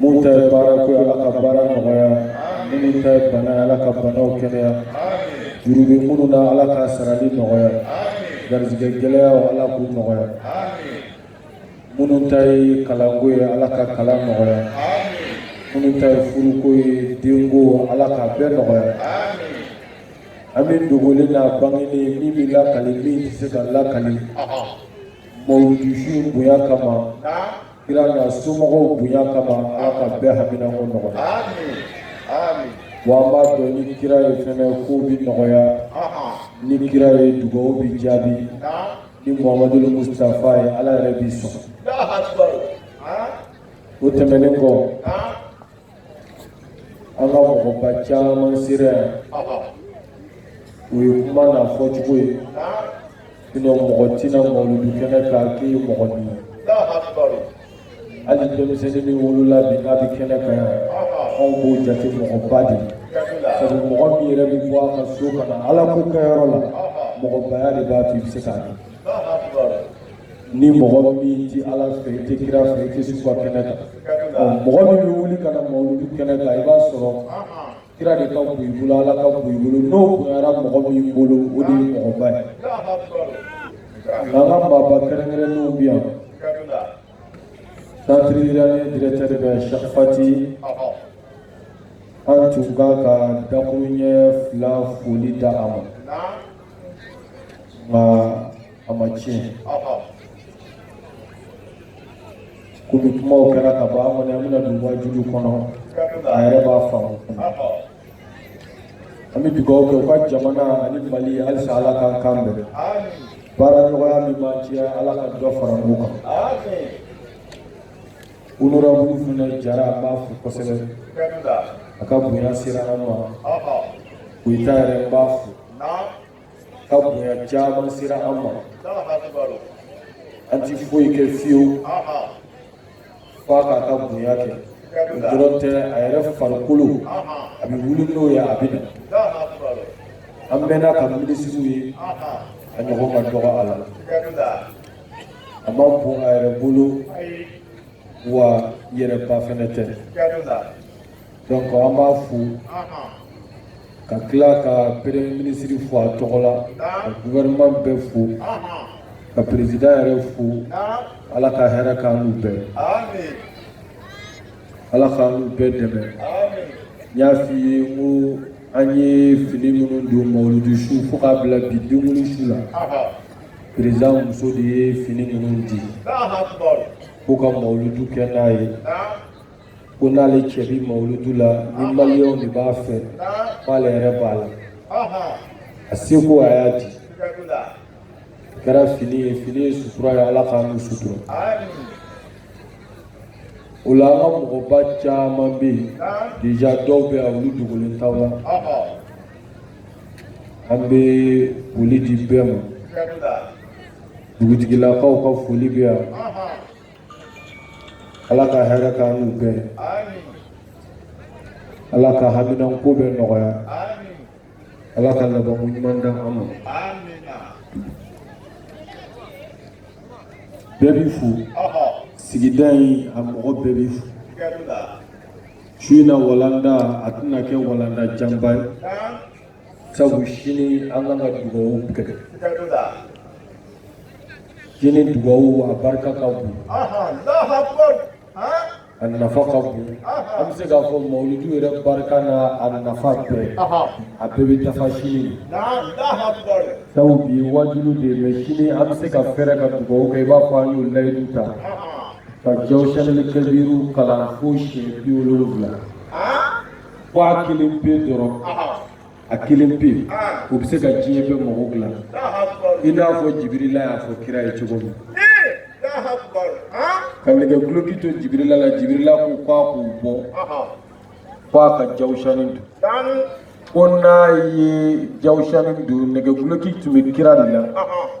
minnu ta ye baara ko ye Ala ka baara nɔgɔya minnu ta ye bana ye Ala ka banaw kɛnɛya juru bɛ minnu na Ala ka sarali nɔgɔya garijɛgɛ gɛlɛyaw Ala k'u nɔgɔya minnu ta ye kalanko ye Ala ka kalan nɔgɔya minnu ta ye furuko ye denko Ala k'a bɛɛ nɔgɔya an bɛ dogolen n'a bangeni min bɛ lakali min tɛ se ka lakali mawuludi su bonya kama kira n'a somɔgɔw bonya kama ala ka bɛɛ haminako nɔgɔya wa an b'a dɔn ni kira ye fɛnɛ ko bi nɔgɔya ni kira ye dugawu bi jaabi ni muhamadul mustafa ye ala yɛrɛ b'i sɔn o tɛmɛnen kɔ an ka mɔgɔba caman sera yan o ye kuma n'a fɔcogo ye sinɔ mɔgɔ tɛ na mawuludu kɛnɛ kan k'i ye mɔgɔnin ye hali denmisɛnnin min wolola bi n'a bɛ kɛnɛ kan yan anw b'o jate mɔgɔba de ye sabu mɔgɔ min yɛrɛ bɛ bɔ a ka so ka na ala ko kɛyɔrɔ la mɔgɔbaya de b'a to i bɛ se k'a kɛ ni mɔgɔ min tɛ ala fɛ i tɛ kira fɛ i tɛ su ka kɛnɛ kan mɔgɔ min bɛ wuli ka na mawuludi kɛnɛ kan i b'a sɔrɔ kira de ka bon i bolo ala ka bon i bolo n'o bonyara mɔgɔ min bolo o de ye mɔgɔba ye nka an ka maaba kɛrɛnkɛrɛnnenw bɛ yan centre iranien directeur bɛ Sheikh Fati an tun ka kan dakuruɲɛ fila fɔli di a ma nka a ma tiɲɛ komi kumaw kɛra ka ban an kɔni an bɛna don wajuliw kɔnɔ a yɛrɛ b'a faamu an bɛ dugawu kɛ u ka jamana ani mali ye halisa ala k'an kan bɛn baaraɲɔgɔnya min b'an cɛ ala ka dɔ fara o kan honorable fana jara an b'a fo kosɛbɛ a ka bonya sera an ma koyita yɛrɛ n b'a fo ka bonya caman sera an ma an ti foyi kɛ fiyewu f'a k'a ka bonya kɛ o dɔrɔn tɛ a yɛrɛ farikolo a bɛ wuli n'o ye a bɛ na an mɛnna ka minisiriw ye a ɲɔgɔn ka dɔgɔ a la a man bon a yɛrɛ bolo wa yɛrɛba fɛnɛ tɛ donc an b'a fo ka tila ka premier ministre fo a tɔgɔ la ka gouvernement bɛɛ fo ka président yɛrɛ fo ala ka hɛrɛ k'an n'u bɛɛ ala k'an n'u bɛɛ dɛmɛ n y'a f'i ye n ko an ye fini minnu don mawuludi su fo k'a bila bi denkundi su la président muso de ye fini ninnu di ko ka mawuludu kɛ n'a ye ko n'ale cɛ bi mawuludu la ni maliyɛnw de b'a fɛ k'ale yɛrɛ b'a la a seko a y'a di a kɛra fini ye fini ye sutura ye ala k'an n'u sutura o la an ka mɔgɔba caman bɛ yen deja dɔw bɛ yan olu dogolen t'aw la an bɛ foli di bɛɛ ma dugutigilakaw ka foli bɛ yan. ala ka hɛrɛ k'an n'u bɛɛ ala ka haminanko bɛ nɔgɔya ala ka labanko ɲuman di an ma bɛɛ b'i fo sigida in a mɔgɔ bɛɛ b'i fo su in na walanda a tɛna kɛ walanda janba ye sabu sini an kan ka dugawu kɛ sini dugawu a barika ka bon a nafa ka bon an bɛ se k'a fɔ mawuludu yɛrɛ barika n'a nafa bɛɛ a bɛɛ bɛ dafa sini sabu bi waajuli de ye mɛ sini an bɛ se ka fɛɛrɛ ka dugawu kɛ i b'a fɔ an y'o layidu ta ka jawusanili kabiru kalan fo siɲɛ bi wolonwula fo a kelen pe dɔrɔn a kelen pe o bɛ se ka diɲɛ bɛɛ mago dila i n'a fɔ jibirila y'a fɔ kira ye cogo min ka nɛgɛ duloki to jibirila la jibirila ko k'a k'o bɔ k'a ka jawusani don ko n'a ye jawusani don nɛgɛ duloki tun bɛ kira de la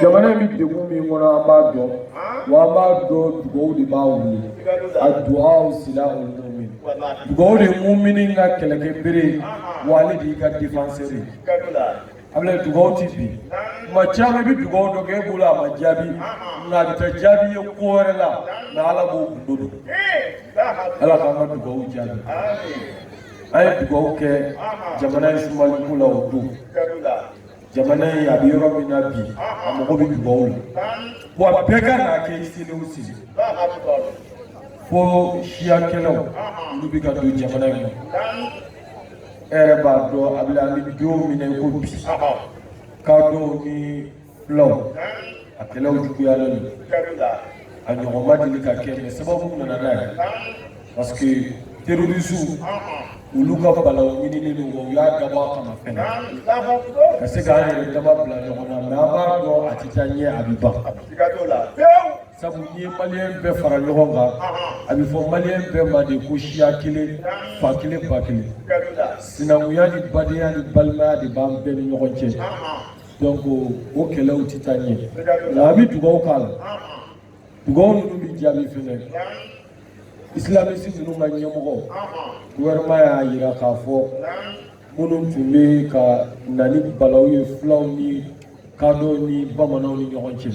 jamana in bɛ degun min kɔnɔ an b'a dɔn wa an b'a dɔn dugawu de b'a wuli adua silahul mumin dugawu de mumini ka kɛlɛkɛ bere wa ale de y'i ka defanseri ye abila dugawu tɛ bin tuma caman i bɛ dugawu dɔ kɛ e bolo a ma jaabi nka a bɛ taa jaabi ye ko wɛrɛ la nka ala b'o gundo dɔn ala k'an ka dugawu jaabi an ye dugawu kɛ jamana in sumali ko la o don jamana in a bɛ yɔrɔ min na bi a mago bɛ dugawu la wa bɛɛ ka n'a kɛ sini o sini fo siyakɛlaw olu bɛ ka don jamana in na e yɛrɛ b'a dɔn a bɛ an bɛ don min na i ko bi kadɔw ni fulaw a kɛlɛw juguyalen don a ɲɔgɔn ma deli ka kɛ mɛ sababu nana n'a ye parce que terrorisiw olu ka balawu ɲinini don u y'a dabɔ a kama fɛnɛ ka se k'an yɛrɛ dama bila ɲɔgɔn na mɛ an b'a dɔn a tɛ taa ɲɛ a bɛ ban sabu n'i ye maliyɛn bɛɛ fara ɲɔgɔn kan a bɛ fɔ maliyɛn bɛɛ ma de ko siya kelen fa kelen ba kelen sinankunya ni badenya ni balimaya de b'an bɛɛ ni ɲɔgɔn cɛ donc o kɛlɛw tɛ taa ɲɛ nka an bɛ dugawu k'a la dugawu ninnu bɛ jaabi fɛnɛ isilamisi ninnu ka ɲɛmɔgɔ gouvernement y'a jira k'a fɔ minnu tun bɛ ka na ni balawu ye fulaw ni kadɔw ni bamananw ni ɲɔgɔn cɛ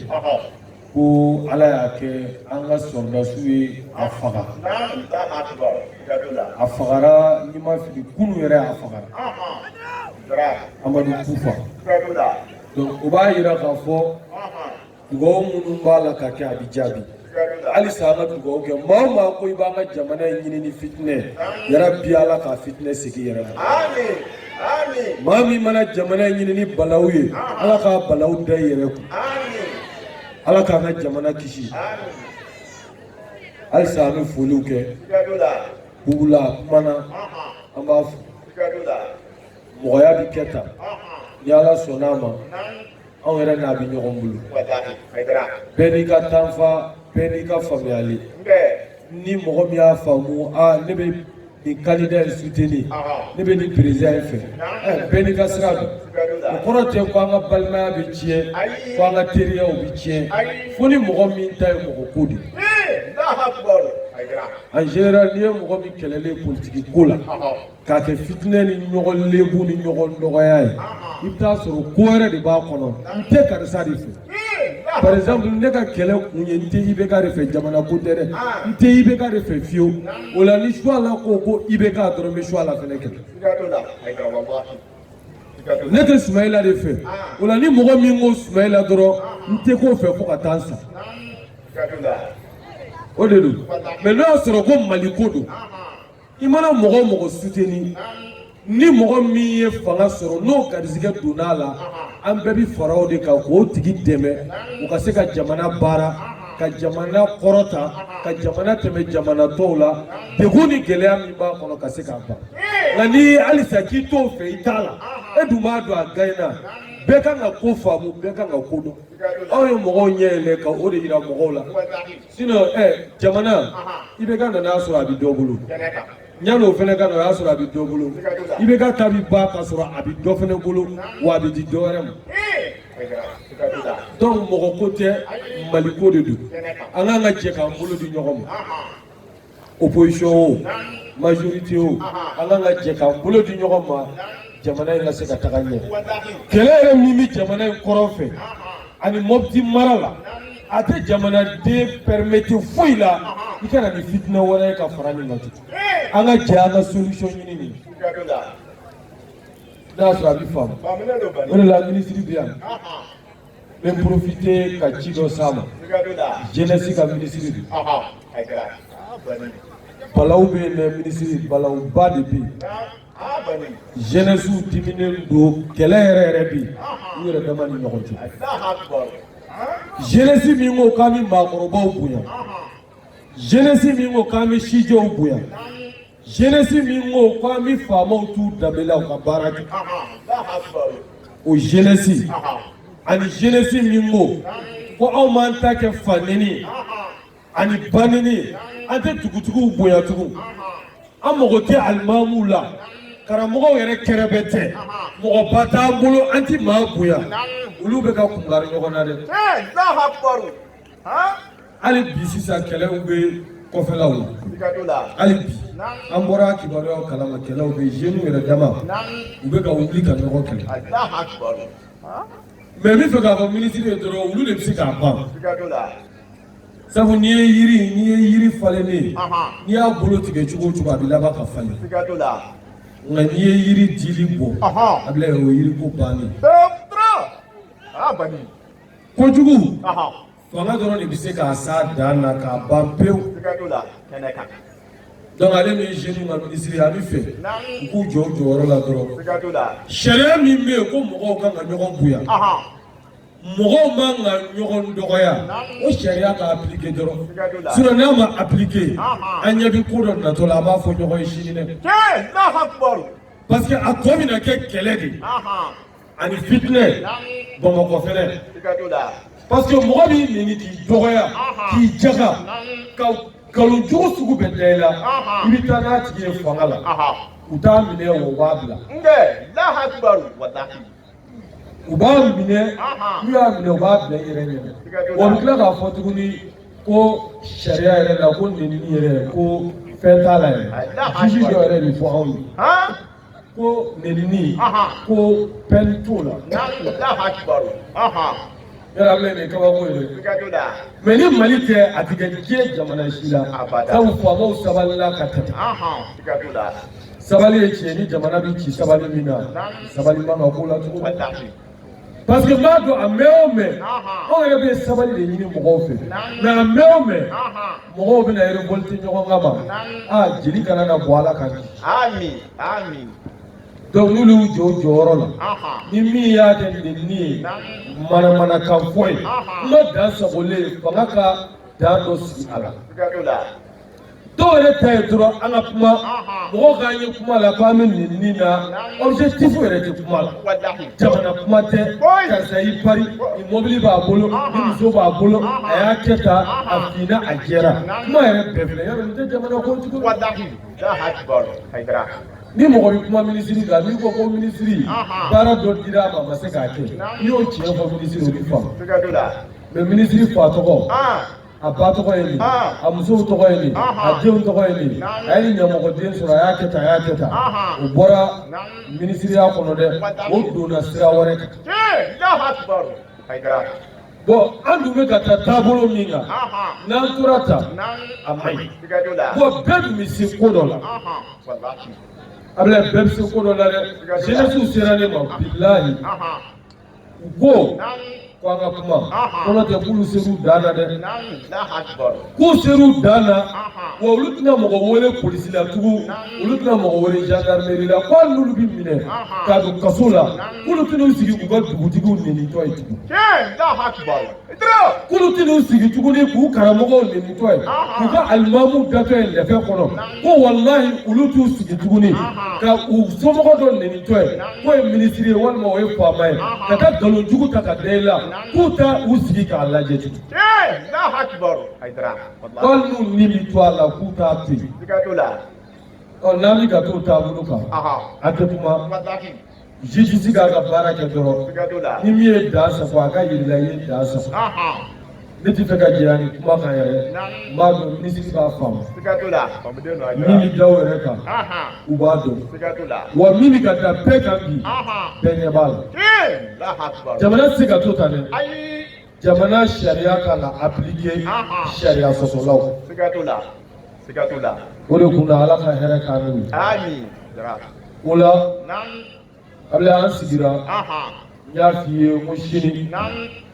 ko ala y'a kɛ an ka sɔrɔdasiw ye a faga a fagara ni n ma fili kunu yɛrɛ a fagara amadu kufa donc o b'a yira k'a fɔ dugawu minnu b'a la ka kɛ a bɛ jaabi halisa an ka dugawu kɛ maa o maa ko i b'an ka jamana in ɲini ni fitinɛ yɛrɛ bi ala k'a fitinɛ segin i yɛrɛ ma maa min mana jamana in ɲini ni balawu ye ala k'a balawu da i yɛrɛ kun ala k'an ka jamana kisi halisa an bɛ foliw kɛ bugula kumana an b'a fo mɔgɔya bɛ kɛ tan ni ala sɔnna a ma anw yɛrɛ n'a bɛ ɲɔgɔn bolo bɛɛ n'i ka tanfa bɛɛ n'i ka faamuyali ni mɔgɔ min y'a faamu aa ne bɛ nin kandida in suteni ne bɛ nin perezida in fɛ bɛɛ n'i ka sira don o kɔrɔ tɛ ko an ka balimaya bɛ tiɲɛ ko an ka teriyaw bɛ tiɲɛ fo ni mɔgɔ min ta ye mɔgɔ ko de en général n'i ye mɔgɔ min kɛlɛlen politiki ko la k'a kɛ fitinɛ ni ɲɔgɔn lebu ni ɲɔgɔn dɔgɔya ye i bɛ taa sɔrɔ ko wɛrɛ de b'a kɔnɔ n tɛ karisa de fɛ par exemple ne ka kɛlɛ kun ye n tɛ IBK de fɛ jamana ko tɛ dɛ n tɛ IBK de fɛ fiyewu o la ni suwala ko ko IBK dɔrɔn n bɛ suwala fɛnɛ kɛlɛ ne tɛ sumayila de fɛ o la ni mɔgɔ min ko sumayila dɔrɔn n tɛ k'o fɛ fo ka taa n sa o de don mais n'o y'a sɔrɔ ko mali ko don i mana mɔgɔ o mɔgɔ suteni ni mɔgɔ min ye fanga sɔrɔ n'o garizigɛ donna a la an bɛɛ bi fara o de kan k'o tigi dɛmɛ u ka se ka jamana baara ka jamana kɔrɔta ka jamana tɛmɛ jamana tɔw la degun ni gɛlɛya min b'a kɔnɔ ka se k'a ban nka ni halisa k'i t'o fɛ i t'a la e dun b'a dɔn a gaɲɛna bɛɛ kan ka ko faamu bɛɛ kan ka ko dɔn aw ye mɔgɔw ɲɛ yɛlɛ ka o de yira mɔgɔw la sinɔn ɛ eh, jamana IBK nana a sɔrɔ a bɛ dɔ bolo yanni o fana ka na o y'a sɔrɔ a bɛ dɔ bolo IBK ta bi ban k'a sɔrɔ a bɛ dɔ fana bolo wa a bɛ di dɔ wɛrɛ ma donc mɔgɔ ko tɛ mali ko de don an kan ka jɛ k'an bolo di ɲɔgɔn ma opposition o majorité o an kan ka jɛ k'an bolo di ɲɔgɔn ma jamana in ka se ka taga ɲɛ kɛlɛ yɛrɛ min bɛ jamana in kɔrɔn fɛ ani mɔpiti mara la a tɛ jamanaden permettre foyi la i ka na ni fitinɛ wɛrɛ ye ka fara nin kan tugun an ka jɛ an ka solution ɲini nin n'a y'a sɔrɔ a bɛ faamu o de la minisiri bɛ yan bɛ profiter ka ci dɔ s'a ma jenɛsi ka minisiri de balaw bɛ yen dɛ minisiri balawba de bɛ yen jenɛsiw diminen don kɛlɛ yɛrɛ yɛrɛ bɛ yen u yɛrɛ dama ni ɲɔgɔn cɛ jenɛsi min ko k'an bɛ maakɔrɔbaw bonya jenɛsi min ko k'an bɛ sijɛw bonya Zɛnɛsi min ko k'an bɛ faamaw t'u danbe la u ka baara kɛ o zɛnɛsi ani zɛnɛsi min ko ko anw b'an ta kɛ faneni ani baneni an tɛ dugutigiw bonya tugun an mago tɛ alimamu la karamɔgɔw yɛrɛ kɛrɛbɛtɛ mɔgɔba t'an bolo an tɛ maa bonya olu bɛ ka kunkari ɲɔgɔn na dɛ hali bi sisan kɛlɛw bɛ kɔfɛlaw la hali bi an bɔra kibaruyaw kalama kɛlɛw bɛ jeunes yɛrɛ dama u bɛ ka wuli ka ɲɔgɔn kɛlɛ mais n bɛ fɛ k'a fɔ minisiri ye dɔrɔn olu de bɛ se k'a ban sabu n'i ye yiri n'i ye yiri falennen ye n'i y'a bolo tigɛ cogo o cogo a bɛ laban ka falen nka n'i ye yiri dili bɔ a bɛ o yiri ko bannen. kojugu fanga dɔrɔn de bɛ se k'a s'a dan na k'a ban pewu donc ale min ye jeune ka minisiri an bɛ fɛ u k'u jɔ u jɔyɔrɔ la dɔrɔn sariya min bɛ yen ko mɔgɔw kan ka ɲɔgɔn bonya mɔgɔw man ka ɲɔgɔn dɔgɔya o sariya ka appliquer dɔrɔn sinon n'a ma appliquer an ɲɛ bɛ ko dɔ natɔ la an b'a fɔ ɲɔgɔn ye sini dɛ parce que a tɔ bɛna kɛ kɛlɛ de ye. ani fitinɛ bamakɔ fɛnɛ parce que mɔgɔ b'i neni k'i dɔgɔya k'i jaga ka nkalon jugu sugu bɛɛ da i la i bɛ taa n'a tigi ye fanga la u t'a minɛ o b'a bila u b'a minɛ n'u y'a minɛ u b'a bila i yɛrɛ ɲɛ wa u bɛ tila k'a fɔ tuguni ko sariya yɛrɛ la ko nenini yɛrɛ ko fɛn t'a la yɛrɛ juge dɔ yɛrɛ de fɔ anw ye. ko nenini ko peine t'o la yɛrɛ an bɛ nin kabako ye mais ni mali tɛ a tɛ kɛ diɲɛ jamana si la sabu faamaw sabalila ka tɛmɛ sabali ye tiɲɛ ni jamana bɛ ci sabali min na sabali man ka k'o la cogo parce que n b'a dɔn a mɛn o mɛn anw yɛrɛ bɛ sabali de ɲini mɔgɔw fɛ mais a mɛn o mɛn mɔgɔw bɛna révolte ɲɔgɔn kanma aa jeli kana na bɔ ala ka ɲi donc n'olu y'u jɔ u jɔyɔrɔ la ni min y'a kɛ nenni ye manamanakan fɔ ye n'o dan sagolen fanga ka dan dɔ sigi a la dɔw yɛrɛ ta ye dɔrɔn an ka kuma mɔgɔw k'an ye kuma la k'an bɛ nenni na objectif yɛrɛ tɛ kuma la jamana kuma tɛ karisa y'i pari ni mobili b'a bolo ni muso b'a bolo a y'a kɛ tan a finna a jɛra kuma yɛrɛ bɛɛ filɛ yɔrɔ nin tɛ jamana ko tugun ni mɔgɔ bɛ kuma minisiri kan n'i ko ko minisiri baara dɔ dira a ma a ma se k'a kɛ n'i y'o tiɲɛ fɔ minisiri o bɛ faamu mais minisiri fa tɔgɔ a ba tɔgɔ ye nin a musow tɔgɔ ye nin a denw tɔgɔ ye nin a ye ɲamɔgɔden sɔrɔ a y'a kɛ tan a y'a kɛ tan o bɔra minisiriya kɔnɔ dɛ o donna sira wɛrɛ kan bon an dun bɛ ka taa taabolo min kan n'an tora tan a man ɲi bon bɛɛ dun bɛ se ko dɔ la Ablaye bɛɛ bɛ se ko dɔ la dɛ jeunesse sera ne ma bilahi. u ko ko an ka kuma kɔnɔ tɛ k'olu ser'u dan na dɛ k'u ser'u dan na wa olu tɛna mɔgɔ wele polisi la tugun olu tɛna mɔgɔ wele gendarmerie la ko hali n'olu bɛ minɛ ka don kaso la k'olu tɛn'u sigi k'u ka dugutigiw nenitɔ ye tugun k'olu tɛn'u sigi tuguni k'u karamɔgɔw nenitɔ ye k'u ka alimamu datɔ ye lɛfɛ kɔnɔ ko walahi olu t'u sigi tuguni ka u somɔgɔ dɔ nenitɔ ye k'o ye minisiri ye walima o ye faama ye ka taa nkalon jugu ta ka da i la k'u tɛ u sigi k'a lajɛ tugun hali n'u ni bi to a la k'u t'a to yen ɔ n'an bɛ ka t'o taabolo kan a tɛ kuma Justice k'a ka baara kɛ dɔrɔn, siga t'o la, ni min ye dan sago a ka jira i la i ye dan sago, anhan, ne tɛ fɛ ka janya nin kuma kan yɛrɛ, naamu, n b'a dɔn minisiri b'a faamu, siga t'o la, faamuden don, a diyara, min bɛ da o yɛrɛ kan, anhan, u b'a dɔn, siga t'o la, wa min bɛ ka da bɛɛ kan bi, anhan, bɛɛ ɲɛ b'a la, ee, Alahu akibaru, jamana tɛ se ka to tan dɛ, ayi jamana sariya ka kan ka appliquer sariya sɔsɔlaw siga t'o la siga t'o la o de kun na ala ka hɛrɛ k'an n'u ye amin o la Ablaye an sigira n y'a f'i ye n ko sini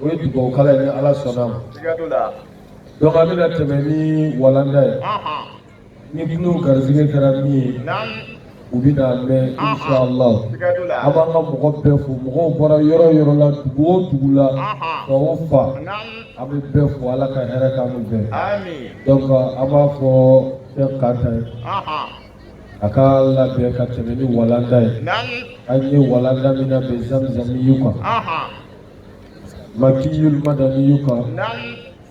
o ye dugawukala ye ni ala sɔnna ma siga t'o la donc an bɛna tɛmɛ ni walanda ye ni tulo garisɛgɛ kɛra min ye o bɛ n'a mɛn inshallah an b'an ka mɔgɔ bɛɛ fo mɔgɔw bɔra yɔrɔ o yɔrɔ la dugu o dugu la fan o fan an bɛ bɛɛ fo ala ka hɛrɛ k'an n'u bɛɛ donc an b'a fɔ Cheikh Kanta ye a ka labɛn ka tɛmɛ ni walanda ye an ye walanda min labɛn zamzamiyu kan makiyul madaniyu kan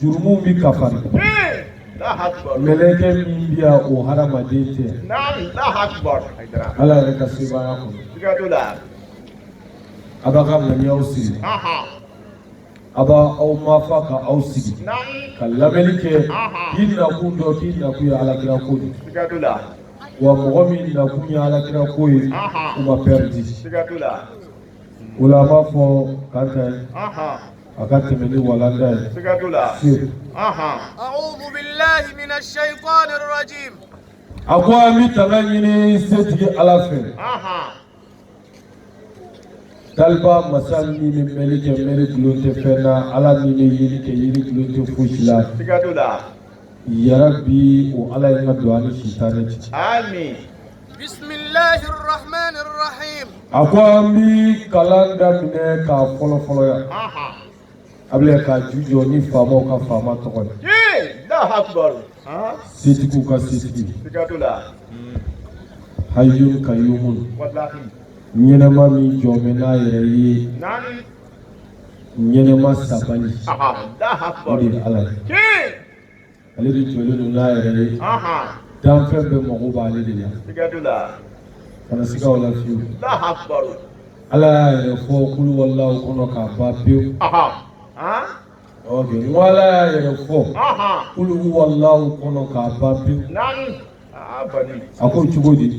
jurumu bɛ kafari mɛlɛkɛ min bɛ yan o hadamaden tɛ ala yɛrɛ ka sebaaya kɔnɔ a b'a ka ŋaniyaw sigi a b'aw mafa ka aw sigi ka lamɛnni kɛ k'i nakun dɔn k'i nakun ye alakira ko de wa mɔgɔ min nakun ye alakira ko ye o ma pɛridi O la an b'a fɔ Kanta ye, anhan, a ka tɛmɛ ni walanda ye, siga t'o la, Seku, anhan, A'uudu bilaahi mina sɛyitaani rajiim. a ko an bɛ tanga ɲini setigi Ala fɛ, anhan, Taliba masa min bɛ mɛnni kɛ mɛnni dulon tɛ fɛn na, Ala min bɛ yeli kɛ yeli dulon tɛ fosi la, siga t'o la, yarabi o Ala ye tanga don an ni sitanɛ cɛ. amin, bisimilahi rahmani rahim. a ko an bi kalan daminɛ k'a fɔlɔ fɔlɔ yan. Ablaye k'a jujɔn ni faamaw ka faama tɔgɔ ye. setigiw ka setigi. hayyun kayyumun. ɲɛnɛma min jɔlen bɛ n'a yɛrɛ ye. ɲɛnɛma sabali. o de ye ala ye. ale de jɔlen don n'a yɛrɛ ye danfɛn bɛɛ mago b'ale de la kana siga o la fiyewu ala y'a yɛrɛ fɔ kul huwalahu kɔnɔ k'a ban pewu n ko ala y'a yɛrɛ fɔ kul huwalahu kɔnɔ k'a ban pewu a ko cogo di.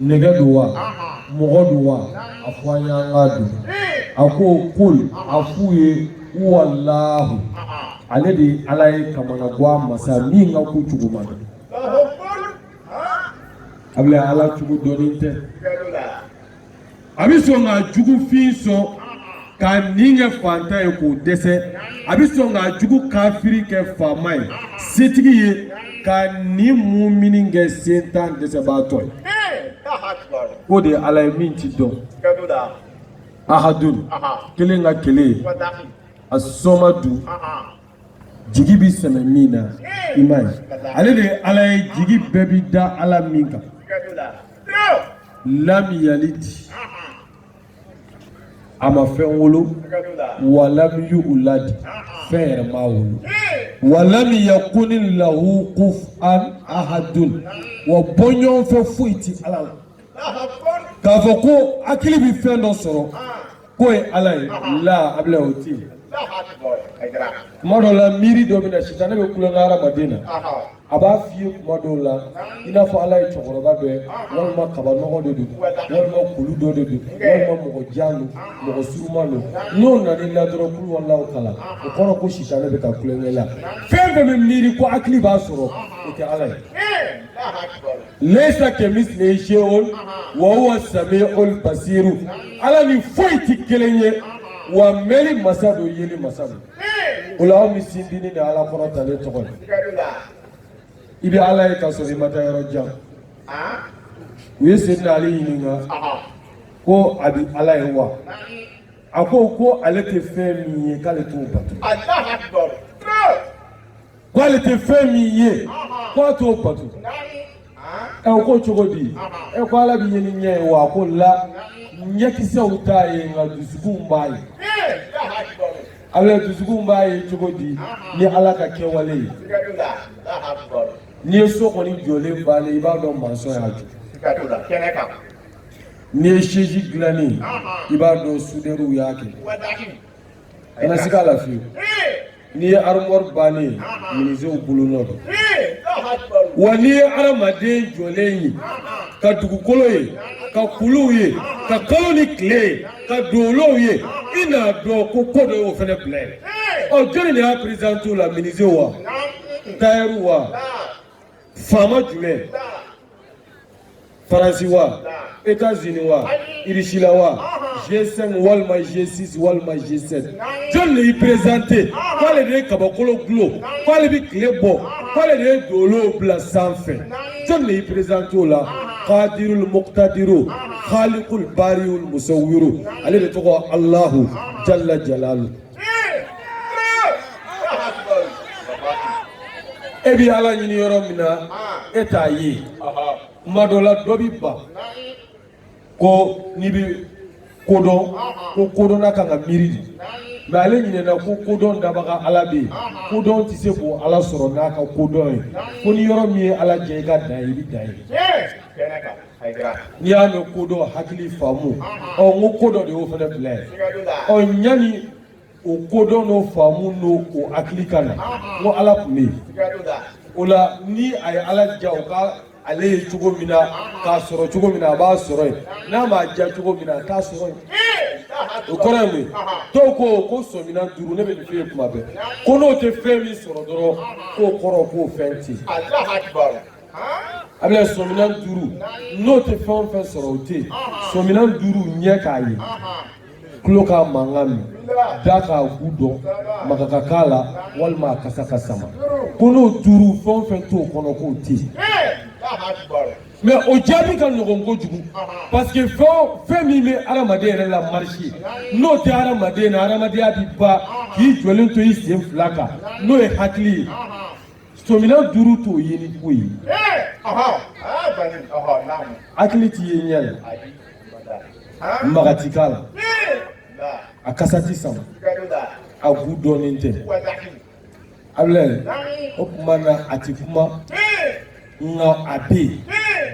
nɛgɛ don wa mɔgɔ don wa a fɔ an y'an k'a dɔn a ko kul a f'u ye huwalahu ale de ye ala ye kamanagwan masa min ka ko cogo ma dɔn Ablaye ala cogo dɔnnen tɛ a bɛ sɔn ka jugufin sɔn ka nin kɛ fantan ye k'o dɛsɛ a bɛ sɔn ka jugu kafiri kɛ faama ye setigi ye ka nin mumini kɛ sentan dɛsɛbaatɔ ye o de ye ala ye min tɛ dɔn ahadun kelen ka kelen asomadu jigi bi sɛmɛ min na i m'a ye ale de ye ala ye jigi bɛɛ bi da ala min kan lam yalid a ma fɛn wolo wa lam yulad fɛn yɛrɛ m'a wolo wa lam yakun lahu kufuwan ahadun wa bɔɲɔgɔn fɛn foyi ti ala la k'a fɔ ko hakili bi fɛn dɔ sɔrɔ k'o ye ala ye la abada o ti yen tuma dɔw la miiri dɔ bɛ na sitanɛ bɛ kulonkɛ hadamaden na a b'a f'i ye tuma dɔw la i n'a fɔ ala ye cɛkɔrɔba dɔ ye walima kabanɔgɔ de don walima kulu dɔ de don walima mɔgɔ jan don mɔgɔ surunman don n'o nana i la dɔrɔn kuluwalahu kalan o kɔrɔ ko sitanɛ bɛ ka kulonkɛ i la fɛn fɛn bɛ miiri ko hakili b'a sɔrɔ o tɛ ala ye lesa kemislihi sheyun wa huwa samiul basiru ala ni foyi ti kelen ye wa mɛli masa don yeli masa don o la aw ni sindini ni ala kɔrɔtalen tɔgɔ la i bɛ ala ye ka sɔrɔ i ma taa yɔrɔ jan u ye seyidina ali ɲininka ko a bɛ ala ye wa a ko ko ale tɛ fɛn min ye k'ale t'o bato K'ale tɛ fɛn min ye k'a t'o bato ɛ o ko cogo di ɛ ko ala bɛ ye ni ɲɛ ye wa ko la ɲɛkisɛw t'a ye nka dusukunw b'a ye ala dusukunw b'a ye cogo di ni ala ka kɛwale ye n'i ye so kɔni jɔlen bannen i b'a dɔn mansɔn y'a jɔ n'i ye sɛsi dilannen i b'a dɔn sudɛriw y'a kɛ kana sika a la fewu n'i ye armɔri bannen minizew bolonɔ don wa n'i ye adamaden jɔlen ye ka dugukolo ye ka kuluw ye ka kalo ni tile ye ka dolow ye i n'a dɔn ko ko dɔ y'o fana bila yen ɔ jɔni de y'a perezante o la minizew wa tayɛriw wa faama jumɛn faransi wa etazini wa irisila wa g5 walima g6 walima g7 jɔni de y'i perezante k'ale de ye kabakolo dulon k'ale bɛ tile bɔ k'ale de ye dolow bila sanfɛ jɔni de y'i perezante o la kadirul muktadiru khalikul bariul musawwiru ale de tɔgɔ alahu jalla jalalu e bɛ ala ɲini yɔrɔ min na e t'a ye kuma dɔ la dɔ bɛ ban ko n'i bɛ kodɔn ko kodɔnna kan ka miiri de mɛ ale ɲinɛna ko kodɔn dabaga ala bɛ yen kodɔn tɛ se k'o ala sɔrɔ n'a ka kodɔn ye kɔni yɔrɔ min ye ala jɛ i ka dan ye i bɛ dan yen. n'i y'a mɛn kodɔn hakili faamu ɔ n ko ko dɔ de y'o fana bila yen ɔ yanni o kodɔn n'o faamu n'o o hakili ka na n ko ala tun bɛ yen o la ni a ye ala diya u ka ale ye cogo min na k'a sɔrɔ cogo min na a b'a sɔrɔ yen n'a m'a diya cogo min na a t'a sɔrɔ yen o kɔrɔ ye mun ye dɔw ko ko sɔminan duuru ne bɛ nin f'e ye tuma bɛɛ ko n'o tɛ fɛn min sɔrɔ dɔrɔn k'o kɔrɔ k'o fɛn tɛ yen a bɛ sɔminan duuru n'o tɛ fɛn o fɛn sɔrɔ o tɛ yen sɔminan duuru ɲɛ k'a ye tulo k'a mankan mɛn da k'a goût dɔn maga ka k'a la walima a kasa ka sama ko n'o duuru fɛn o fɛn t'o kɔnɔ k'o tɛ yen mais o jaabi ka nɔgɔn kojugu parce que fɛn fɛn min bɛ adamaden yɛrɛ la marcher n'o tɛ adamaden na adamadenya bɛ ban k'i jɔlen to i sen fila kan n'o ye hakili ye Sɔminan duuru t'o ye ni ko ye. Hakili ti ye ɲɛ la. Maga ti k'a la. A kasa ti sama. A goût dɔnnen tɛ. A filɛ o tuma na a ti kuma. Nka a bɛ yen.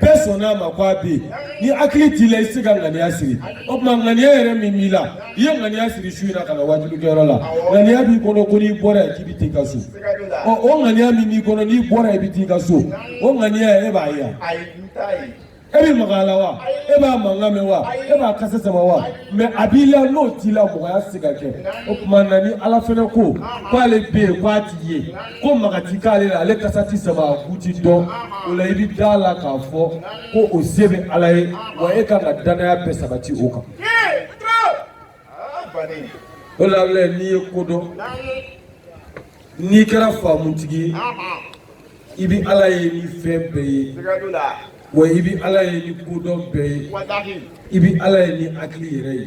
Bɛɛ sɔnna a ma ko a bɛ yen. Ni hakili t'i la i tɛ se ka ŋaniya siri. O tuma ŋaniya yɛrɛ min b'i la, i ye ŋaniya siri su in na ka na wajulikɛyɔrɔ la. Ŋaniya b'i kɔnɔ ko n'i bɔra yan k'i bɛ taa i ka so. o ŋaniya min b'i kɔnɔ n'i bɔra i bɛ t'i ka so o ŋaniya e b'a ye e bɛ maga a la wa e b'a mankan mɛn wa e b'a kasa sama wa mais a b'i la n'o t'i la mɔgɔya tɛ se ka kɛ o tuma na ni ala fana ko k'ale bɛ yen k'a ti ye ko maga ti k'ale la ale kasa ti sama a goût ti dɔn o la i bɛ da a la k'a fɔ ko o se bɛ ala ye wa e kan ka dannaya bɛɛ sabati o kan. o la filɛ n'i ye ko dɔn n'i kɛra faamutigi ye i bɛ ala ye ni fɛn bɛɛ ye wa i bɛ ala ye ni kodɔn bɛɛ ye i bɛ ala ye ni hakili yɛrɛ ye.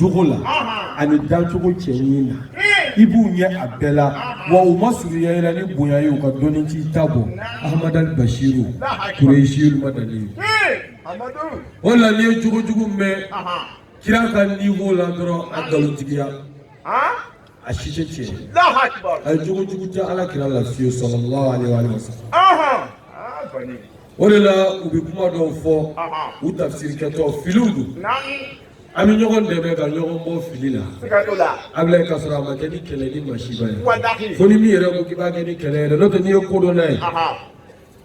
jogo la ani dancogo cɛɲi na i b'u ɲɛ a bɛɛ la wa u ma surunya i la ni bonya ye u ka dɔnni t'i ta bɔ ahamadali basiru kureyisiyu madaniyu o de la n'i ye jogo jugu mɛn kira ka niveau la dɔrɔn a nkalontigiya a si tɛ tiɲɛ ye jogo jugu tɛ ala kira la fiyewu sallallahu aleyhi wa sallam. O de la u bɛ kuma dɔw fɔ u tafisiri kɛtɔ filiw don an bɛ ɲɔgɔn dɛmɛ ka ɲɔgɔn bɔ fili la a bɛ ka sɔrɔ a ma kɛ ni kɛlɛ ni masiba ko ni min yɛrɛ ko k'i b'a kɛ ni kɛlɛ n'o tɛ n'i ye kodɔnna ye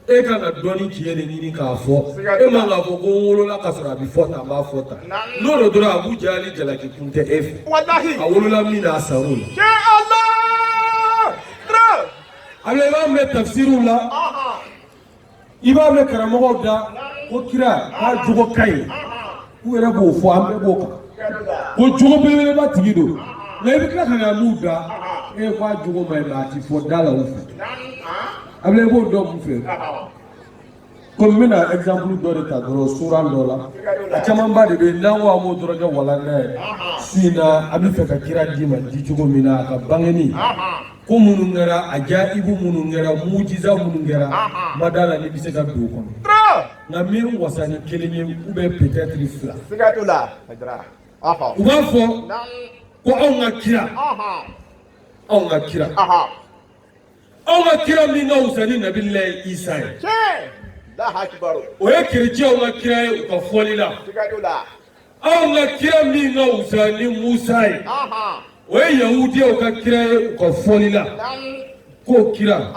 e ka ka dɔnni ci de ɲini k'a fɔ e ma k'a fɔ ko wolola ka sɔrɔ a bɛ fɔ a b'a fɔ ta n'o don dɔrɔn abu jahali jalaki kun tɛ e fɛ a wolola min a sa la a bɛ b'a mɛn tafisiriw la i b'a mɛn karamɔgɔw da ko kira k'a jogo ka ɲi u yɛrɛ b'o fɔ an bɛɛ b'o kan ko jogo belebeleba tigi don nka i bɛ tila ka na n'u da e k'a jogo ma ɲi nka a ti fɔ da la u fɛ a bɛ i b'o dɔn mun fɛ komi n bɛna exemple dɔ de ta dɔrɔn sura dɔ la a camanba de bɛ yen n'an ko an b'o dɔrɔn kɛ walanna ye su in na an bɛ fɛ ka kira d'i ma di cogo min na a ka bangeni ko minnu kɛra ajayibu minnu kɛra mujiza minnu kɛra ma d'a la ni bɛ se ka don o kɔnɔ nka n bɛ n wasa ni kelen ye ou bien peut-être fila u b'a fɔ ko anw ka kira anw ka kira anw ka kira min ka wusa ni nabilahi isa ye o ye kerecɛnw ka kira ye u ka fɔli la anw ka kira min ka wusa ni musa ye o ye yahudiyaw ka kira ye u ka fɔli la ko kira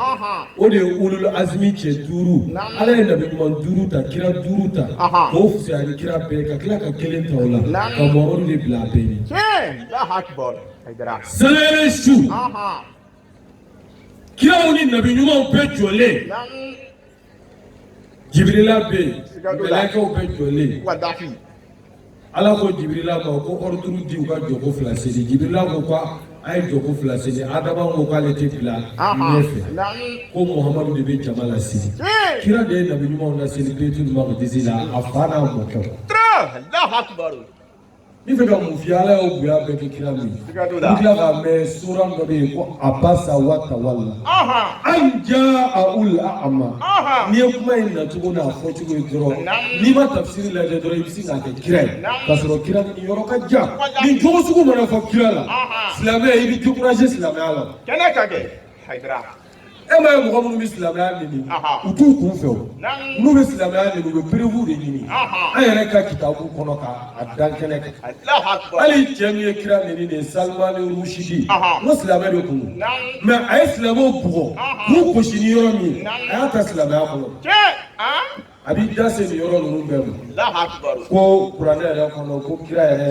o de ye ulul azmi cɛ duuru ala ye nabi ɲuman duuru ta kira duuru ta k'o fusaya ni kira bɛɛ ka tila ka kelen ta o la ka muhamadu de bila a bɛɛ ɲɛ sanyɛlɛ su kiraw ni nabi ɲumanw bɛɛ jɔlen jibirila bɛ yen mɛlɛkɛw bɛɛ jɔlen ala ko jibirila ma ko ordre di u ka jɔko fila seli jibirila ko ko a ye jɔko fila seli adama ko k'ale tɛ bila ɲɛfɛ ko muhamadu de bɛ jama laseli kira de ye nabi ɲumanw laseli bayitulu makidisi la a fa n'a mɔkɛw Ni fɛ ka mun f'i ye ala y'o bonya bɛɛ kɛ kira min ye tila k'a mɛn sura dɔ bɛ yen ko abasa wa tawala an jaahul a'ma n'i ye kuma in nacogo n'a fɔ cogo ye dɔrɔn n'i ma tafisiri lajɛ dɔrɔn i bɛ se k'a kɛ kira ye ka sɔrɔ kira ni yɔrɔ ka jan nin jogo sugu mana fɔ kira la silamɛ i bɛ décourager silamɛya la kɛnɛ kan kɛ e ma ye mɔgɔ minnu bɛ silamɛya nɛni u t'u kun fɛ o n'u bɛ silamɛya nɛni u bɛ perewu de ɲini an yɛrɛ ka kitabu kɔnɔ k'a da kɛnɛ kan hali cɛ min ye kira nɛni de ye salimani rusidi n ko silamɛ de kun don mɛ a ye silamɛw bugɔ k'u gosi ni yɔrɔ min ye a y'a ta silamɛya kɔnɔ. a b'i da se nin yɔrɔ ninnu bɛɛ ma ko kuranɛ yɛrɛ kɔnɔ ko kira yɛrɛ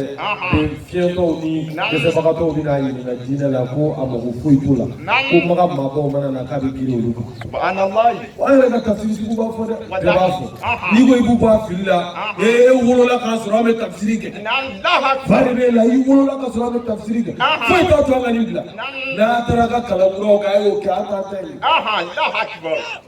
bɛ fiɲɛtɔw ni dɛsɛbagatɔw bɛ n'a ɲininka diinɛ la ko a mago foyi t'o la ko maga maabaw mana na k'a bɛ girin olu kan an yɛrɛ ka tafsiri sugu b'a fɔ dɛ bɛɛ b'a fɔ n'i ko i b'u bɔ a fili la ee wolola k'a sɔrɔ an bɛ tafsiri kɛ fa de b'e la i wolola k'a sɔrɔ an bɛ tafsiri kɛ foyi t'a to an ka nin bila n'a taara ka kalan kuraw kɛ a y'o kɛ an t'a ta ye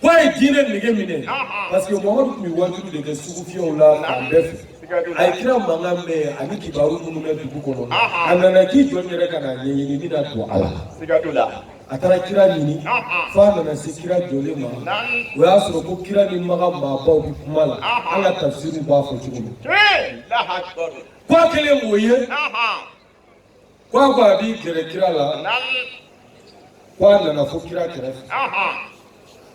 Ko a ye diinɛ nege minɛ parce que Muhamadu tun bɛ waajuli de kɛ sugufiyɛw la fan bɛɛ fɛ a ye kira mankan mɛn ani kibaru minnu bɛ dugu kɔnɔ a nana k'i jɔ n yɛrɛ ka na ɲɛɲini n bɛna don a la a taara kira ɲini fo a nana se kira jɔlen ma o y'a sɔrɔ ko kira ni maga maabaw bɛ kuma la an ka tafsiriw b'a fɔ cogo min ko a kɛlen k'o ye Ko a ko a b'i gɛrɛ kira la ko a nana fo kira kɛrɛfɛ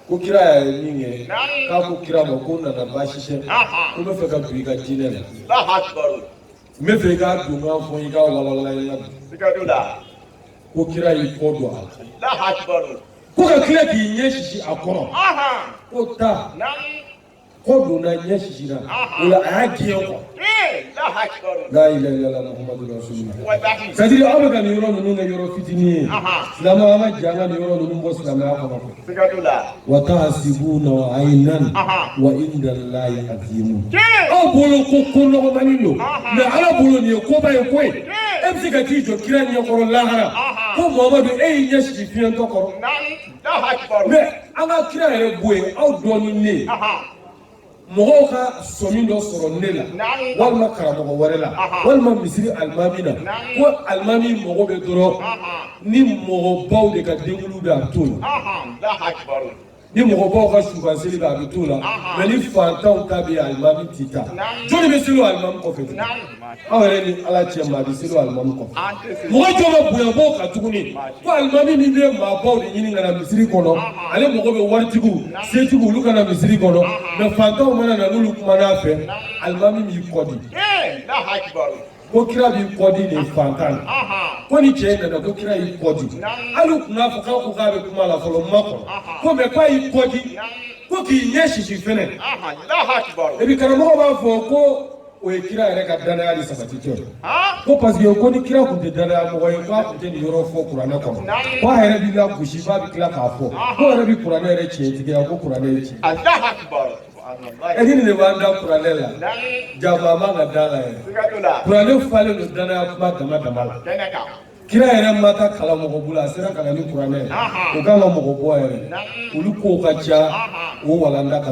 ko kira y'a ye minkɛ k'a ko kira ma ko nana baasi tɛ ko n bɛ fɛ ka don i ka diinɛ la n bɛ fɛ i k'a don k'a fɔ i k'a walawala i la bi ko kira y'i kɔ don a la ko ka tila k'i ɲɛ sisi a kɔrɔ ko taa kɔ donna ɲɛ sisira o la a y'a gɛn kɔ la ilaha illallah muhammadu rasulullah c'est à dire aw bɛ ka nin yɔrɔ ninnu kɛ yɔrɔ fitinin ye silamɛ an ka jɛ an ka nin yɔrɔ ninnu bɔ silamɛya kɔnɔ wa tahsibunahu aynan wa inda llahi azimun aw bolo ko ko nɔgɔmani don mais ala bolo nin ye koba ye koyi e bɛ se ka t'i jɔ kira ɲɛkɔrɔ lahara ko mamadu e y'i ɲɛ sisi fiɲɛtɔ kɔrɔ mɛ an ka kira yɛrɛ bɔ yen aw dɔɔni ni mɔgɔw ka sɔmi dɔ sɔrɔ ne la walima karamɔgɔ wɛrɛ la walima misiri alimami na ko alimami mago bɛ dɔrɔn ni mɔgɔbaw de ka denkundi bɛ a bɛ t'o la ni mɔgɔbaw ka subanseli bɛ a bɛ t'o la mɛ ni fantanw ta bɛ alimami tɛ taa jɔni bɛ seli o alimami kɔfɛ aw yɛrɛ ni ala cɛ maa bɛ seli o alimami kɔfɛ mɔgɔ jɔ ka bonyabaw kan tuguni ko alimami min bɛ maabaw de ɲini ka na misiri kɔnɔ ale mago bɛ waritigiw setigiw olu ka na misiri kɔnɔ mɛ fantanw mana na n'olu kumana a fɛ alimami b'i kɔ di ko kira b'i kɔ di nin fantan na ko nin cɛ in nana ko kira y'i kɔ di hali u tun b'a fɔ k'a ko k'a bɛ kuma la fɔlɔ makɔnɔ ko mɛ k'a y'i kɔ di ko k'i ɲɛ sisi fɛnɛ et puis karamɔgɔ b'a fɔ ko o ye kira yɛrɛ ka danaya de sabatitɔ ye ko parce que ko ni kira tun tɛ danaya mɔgɔ ye k'a tun tɛ nin yɔrɔ fɔ kuranɛ kɔnɔ ko a yɛrɛ b'i lagosi f'a bɛ tila k'a fɔ k'o yɛrɛ bɛ kuranɛ yɛrɛ tiɲɛtigiya ko kuranɛ ye tiɲɛ e ni nin de b'an da kuranɛ la janfa a man ka da la yɛrɛ kuranɛ falen don danaya kuma dama dama la kira yɛrɛ ma taa kalan mɔgɔ bolo a sera ka na ni kuranɛ ye o kan ka mɔgɔ bɔ yɛrɛ olu kow ka ca o walanda ka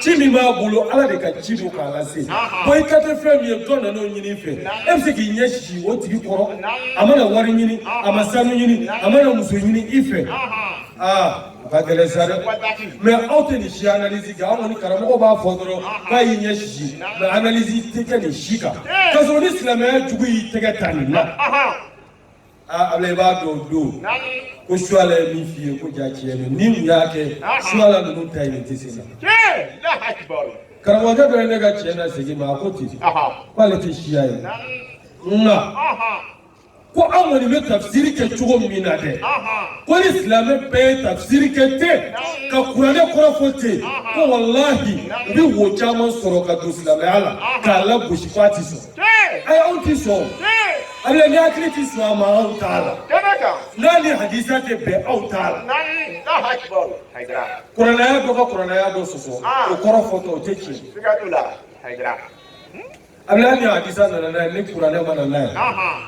ci min b'a bolo ala de ka ci don k'a lase bon i ta tɛ fɛn min ye dɔ nana o ɲini i fɛ e bɛ se k'i ɲɛ sisi o tigi kɔrɔ a ma na wari ɲini a ma sanu ɲini a ma na muso ɲini i fɛ aa o ka gɛlɛn sa dɛ mɛ aw tɛ nin si analyse kɛ an kɔni karamɔgɔ b'a fɔ dɔrɔn k'a y'i ɲɛ sisi mɛ analyse tɛ kɛ nin si kan k'a sɔrɔ ni silamɛya jugu y'i tɛgɛ ta nin na aa Ablaye i b'a dɔn o don ko suwala ye min f'i ye ko ja tiɲɛ don ni mun y'a kɛ suwala ninnu ta ye nin tɛ se ka karamɔgɔkɛ dɔ ye ne ka tiɲɛ na segin ma a ko ten k'ale tɛ siya ye nka ko an kɔni bɛ tafsiri kɛ cogo min na dɛ ko ni silamɛ bɛɛ ye tafsiri kɛ ten ka kuranɛ kɔrɔ fɔ ten ko walahi u bɛ wo caman sɔrɔ ka don silamɛya la k'a lagosi k'a ti sɔn ayi anw ti sɔn Ablaye ni hakili ti sɔn a ma anw t'a la n'a ni hadisa tɛ bɛn anw t'a la kuranɛ aya dɔ ka kuranɛ aya dɔ sɔsɔ o kɔrɔ fɔcogo tɛ tiɲɛ Ablaye ni hadisa nana n'a ye ni kuranɛ ma na n'a ye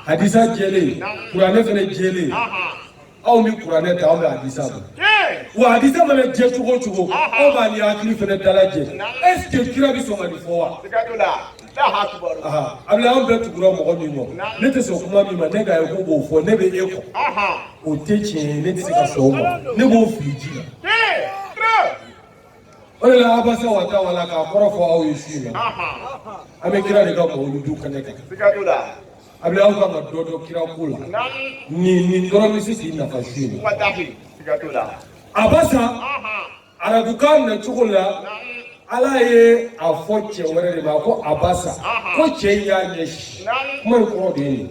hadisa jɛlen kuranɛ fana jɛlen anw bɛ kuranɛ ta anw bɛ hadisa bɔ wa hadisa mana jɛ cogo o cogo anw b'a ni hakili fana dalajɛ est ce que kira bɛ sɔn ka nin fɔ wa. Ablaye an bɛɛ tugura mɔgɔ min kɔ ne tɛ sɔn kuma min ma ne ka ye ko b'o fɔ ne bɛ e kɔ o tɛ tiɲɛ ye ne tɛ se ka sɔn o ma ne b'o fili ji la. o de la abasa wa tawala k'a kɔrɔ fɔ aw ye su in na an bɛ kira de ka mawuludu kɛnɛ kan Ablaye aw kan ka dɔ dɔn kira ko la nin nin dɔrɔn bɛ se k'i nafa su in na abasa arabukan na cogo la ala ye a fɔ cɛ wɛrɛ de ma ko abasa ko cɛ in y'a ɲɛ sisi kuma in kɔrɔ de ye nin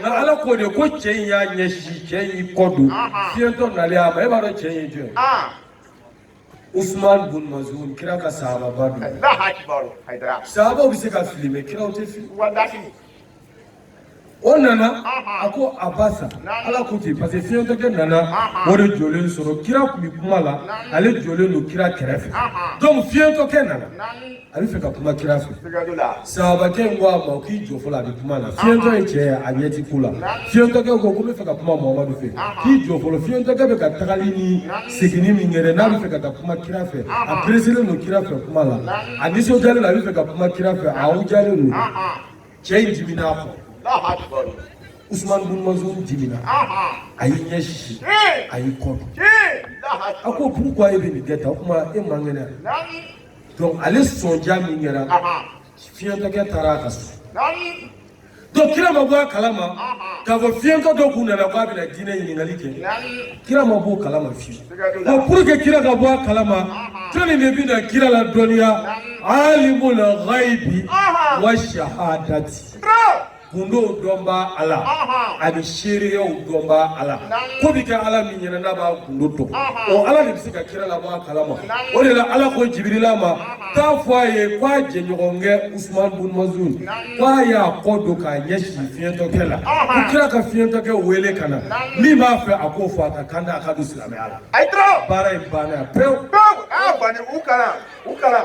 nka ala k'o de ko cɛ in y'a ɲɛ sisi cɛ in y'i kɔ don fiyɛntɔ nalen a ma e b'a dɔn cɛ in ye jɔn ye usman bun mazun kira ka sahababa don sahabaw bɛ se ka fili mɛ kiraw tɛ fili o nana a ko abasa ala ko ten parce que fiɲɛtɔkɛ nana o de jɔlen sɔrɔ kira tun bɛ kuma la ale jɔlen don kira kɛrɛfɛ donc fiɲɛtɔkɛ nana a bɛ fɛ ka kuma kira fɛ sahabakɛ in ko a ma k'i jɔ fɔlɔ a bɛ kuma na fiɲɛtɔ ye cɛ ye a ɲɛ ti ko la fiɲɛtɔkɛ ko ko n bɛ fɛ ka kuma mamadu fɛ k'i jɔ fɔlɔ fiɲɛtɔkɛ bɛ ka tagali ni seginni min kɛ n'a bɛ fɛ ka taa kuma kira fɛ a pereselen don kira fɛ kuma la a nisɔndiyalen don a bɛ fɛ ka kuma kira fɛ a awujalen don cɛ in dimina a kɔ usumani bin mazun dimina a y'i ɲɛ sisi a y'i kɔ don a ko pourquoi e bɛ nin kɛ tan o tuma e man kɛnɛ donc ale sɔnja min kɛra fiɲɛtɔkɛ taara a ka so donc kira ma bɔ a kalama k'a fɔ fiɲɛtɔ dɔ kun nana k'a bɛna diinɛ ɲininkali kɛ kira ma bɔ o kalama fiyewu donc pour que kira ka bɔ a kalama jɔni de bɛna kira ladɔnniya alimul ghaibi wa shahadati kundow dɔnba ala ani seereyaw dɔnba ala ko bɛ kɛ ala min ɲɛna n'a b'a kundo dɔn o ala de bɛ se ka kira labɔ a kalama o de la ala ko jibirila ma k'a fɔ a ye k'a jɛɲɔgɔnkɛ usman bun mazun k'a y'a kɔ don k'a ɲɛsin fiɲɛtɔkɛ la ko kira ka fiɲɛtɔkɛ wele ka na min b'a fɛ a k'o fɔ a ka kan da a ka don silamɛya la baara in banna pewu pewu a bani u kalan u kalan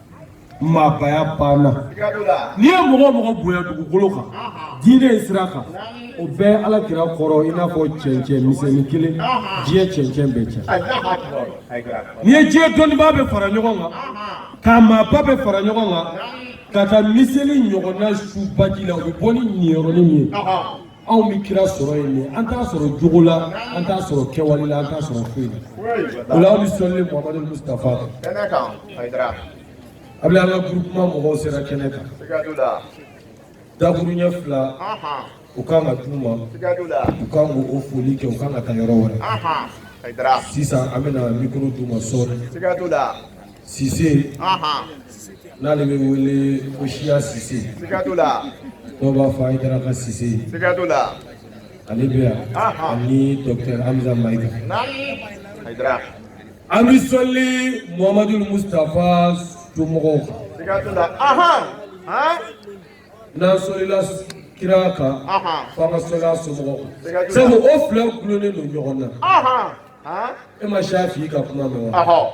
maabaya banna n'i ye mɔgɔ o mɔgɔ bonya dugukolo kan diinɛ in sira kan o bɛ ala kira kɔrɔ i n'a fɔ cɛncɛn misɛnnin kelen diɲɛ cɛncɛn bɛɛ cɛ n'i ye diɲɛ dɔnnibaa bɛɛ fara ɲɔgɔn kan k'a maaba bɛɛ fara ɲɔgɔn kan ka taa miseli ɲɔgɔnna su baji la o bɛ bɔ ni niyɔrɔnin min ye anw bɛ kira sɔrɔ yen de an t'a sɔrɔ jogo la an t'a sɔrɔ kɛwale la an t'a sɔrɔ foyi la o la aw bɛ sɔli muhamadu mustafa kan a bɛ an ka groupement mɔgɔw sera kɛnɛ kan dakuruɲɛ fila u kan ka d'u ma u kan k'o foli kɛ u kan ka taa yɔrɔ wɛrɛ sisan an bɛna mikoro d'u ma sɔɔni Sise n'ale bɛ wele ko siya sise dɔw b'a fɔ Ayidara ka sise ale bɛ yan ani dɔkitɛri hamiza mayiga an bɛ sɔli muhamadu mustafa somɔgɔw kan n'an sɔlila kira kan fo an ka sɔli a somɔgɔw kan sabu o fila gulonnen don ɲɔgɔn na e ma Shafi ka kuma mɛn wa.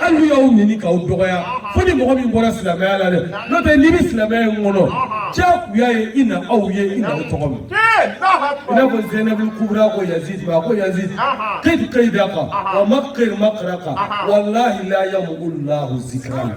Hali y'aw ɲini k'aw dɔgɔya fo ni mɔgɔ min bɔra silamɛya la dɛ n'o tɛ n'i bɛ silamɛya in kɔnɔ diyagoya ye i na aw ye i na aw tɔgɔ mɛn i n'a fɔ Zɛnɛbu kubura ko Yazidi ma a ko Yazidi kid kaidaka wa makir makraka walahi la yamuhu lahu zikirana.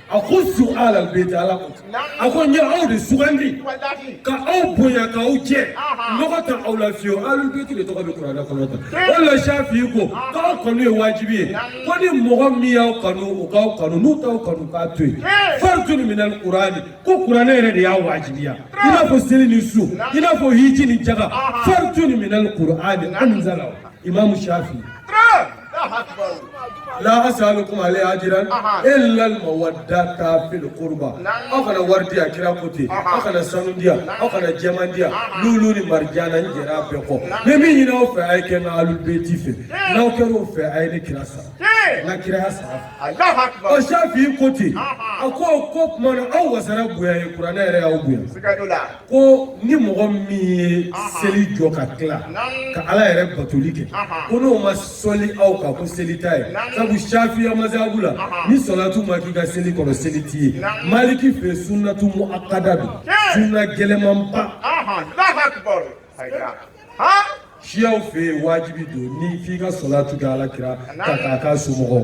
Akhussu ahlal bayti ala a ko n ye aw de sugandi ka aw bonya ka aw jɛ nɔgɔ t'aw la fiyewu ahlul bayti de tɔgɔ bɛ kuranɛ kɔnɔ tan o la Shafi ko k'aw kanu ye wajibi ye ko ni mɔgɔ min y'aw kanu u k'aw kanu n'u t'aw kanu k'a to yen fardun minal kurani ko kuranɛ yɛrɛ de y'a wajibiya i n'a fɔ seli ni sun i n'a fɔ hiji ni jaka fardun minal kurani an Imam Shafi. La asalukum alayhi ajran illa al-mawaddata fil qurba. Aw kana wari di yan kira ko ten. Aw kana sanu di yan. Aw kana jaman di yan. Lulu ni marijana n jɛra bɛɛ kɔ. N bɛ min ɲini aw fɛ a ye kɛ n ka alubeti fɛ. N'aw kɛra o fɛ a ye ne kira sara. N ka kiraya sara. Ɔ Shafi ko ten. A ko k'o tuma na aw wasara bonya ye kuranɛ yɛrɛ y'aw bonya. ko ni mɔgɔ min ye seli jɔ ka tila ka ala yɛrɛ batoli kɛ ko n'o ma sɔli aw kan ko seli t'a ye sabu shafiya mazhabu la ni sɔlatu ma k'i ka seli kɔnɔ seli t'i ye maliki fɛ sunnatu muakkada don sunna gɛlɛmanba shiyaw fɛ yen wajibi don ni f'i ka sɔlatu kɛ ala kira kan k'a ka somɔgɔw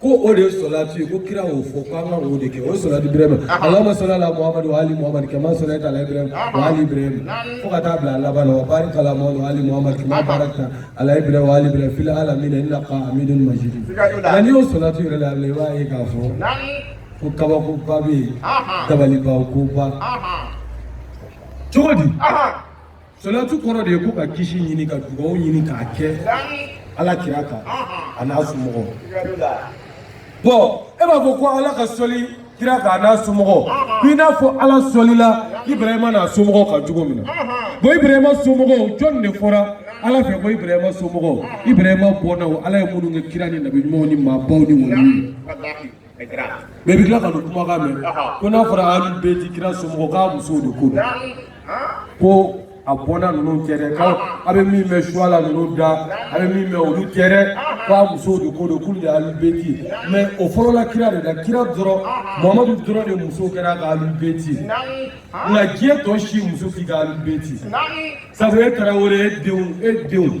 ko o de ye sɔlatu ye ko kira y'o fɔ ko an ka o de kɛ o ye sɔlatu ibrahima allahumma salli ala muhamadu wa ali muhamadu kama sallayta ala ibrahima wa ali ibrahima fo ka taa bila laban na wa barik ala muhamadu wa ali muhamadu kama barakta ala ibrahima wa ali ibrahima fil alamina innaka hamidun majid nka n'i y'o sɔlatu yɛrɛ la i b'a ye k'a fɔ ko kabakoba bɛ yen dabalibankoba cogo di. Salatu kɔrɔ de ye ko ka kisi ɲini ka dugawu ɲini k'a kɛ ala kira kan a n'a somɔgɔw bon e b'a fɔ ko ala ka sɔli kira kan a n'a somɔgɔw ko i n'a fɔ ala sɔlila ibrahima n'a somɔgɔw kan cogo min na bon ibrahima somɔgɔw jɔni de fɔra ala fɛ ko ibrahima somɔgɔw ibrahima bɔnnaw ala ye minnu kɛ kira ni nabi ɲumanw ni maabaw ni waliw ye Mais bɛ tila ka dɔw kumakan mɛn ko n'a fɔra alubeti kira somɔgɔw k'a musow de ko ko a bɔnna ninnu tɛ dɛ a bɛ min mɛn suwala ninnu da a bɛ min mɛn olu tɛ dɛ k'a musow de ko don k'olu de alubeti mais o fɔlɔla kira de la kira dɔrɔn mamadu dɔrɔn de muso kɛr'a ka alubeti nka diɲɛ tɔ si muso t'i ka alubeti sabu e tarawele e denw e denw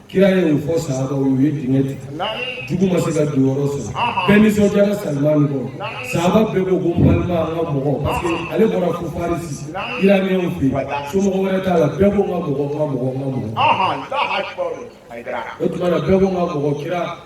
kira ye o fɔ sahabaw ye dingɛ tigɛ jugu ma se ka don yɔrɔ sɔrɔ bɛɛ nisɔndiyara salimani kɔrɔ sahaba bɛɛ ko ko n balima an ka mɔgɔ parce que ale bɔra fo farisi iraniyɛnw fɛ yen somɔgɔ wɛrɛ t'a la bɛɛ ko n ka mɔgɔ n ka mɔgɔ n ka mɔgɔ o tuma na bɛɛ ko n ka mɔgɔ kira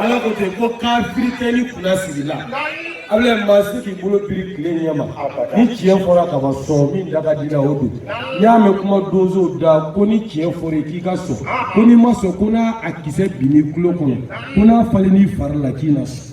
ala ko ten ko kafiri tɛ ni kunna sigi la abulayi maa si t'i bolo biri tile ɲɛ ma ni tiɲɛ fɔra ka ban sɔn min da ka di la o don n'i y'a mɛn kuma dɔnso da ko ni tiɲɛ fɔr'i ye k'i ka sɔn ko n'i ma sɔn ko n'a a kisɛ binn'i tulo kɔnɔ ko n'a falenn'i fari la k'i na sɔn.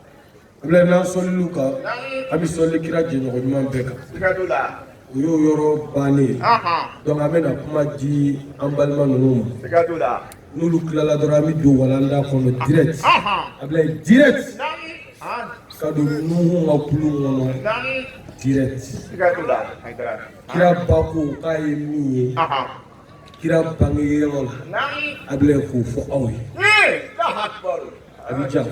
Abulayi n'an sɔlil'u kan an bɛ sɔli kira jɛɲɔgɔn ɲuman bɛɛ kan o y'o yɔrɔ bannen ye donc an bɛna kuma di an balima ninnu ma n'olu tilala dɔrɔn an bɛ don walanda kɔnɔ direct Abulayi direct ka don Nuhun ka kulun kɔnɔ direct kira ba ko k'a ye min ye kira bangeyɔrɔ la Abulayi k'o fɔ aw ye. A bɛ diya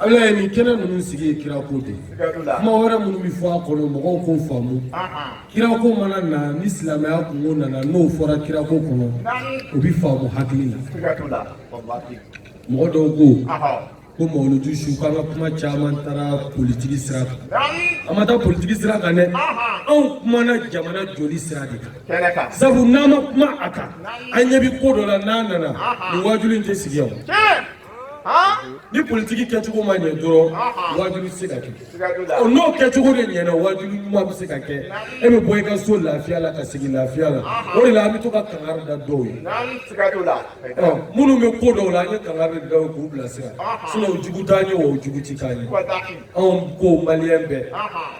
Abulayi nin kɛnɛ ninnu sigi ye kira ko de kuma wɛrɛ minnu bɛ fɔ a kɔnɔ mɔgɔw k'o faamu kira ko mana na ni silamɛya kungo nana n'o fɔra kira ko kɔnɔ o bɛ faamu hakili la mɔgɔ dɔw ko ko mawuluju su k'an ka kuma caman taara politiki sira kan an ma taa politiki sira kan dɛ anw kumana jamana jɔli sira de kan sabu n'an ma kuma a kan an ɲɛ bɛ ko dɔ la n'a nana nin wajulu in tɛ sigi yan ni politiki kɛcogo ma ɲɛ dɔrɔn wajulu tɛ se ka kɛ ɔ n'o kɛcogo de ɲɛna wajulu ɲuman bɛ se ka kɛ e bɛ bɔ i ka so lafiya la ka segin lafiya la o de la an bɛ to ka kangari da dɔw ye ɔ minnu bɛ ko dɔw la an ye kangari da k'u bilasira sinon jugu t'an ye o jugu ti k'an ye anw ko maliyɛn bɛɛ.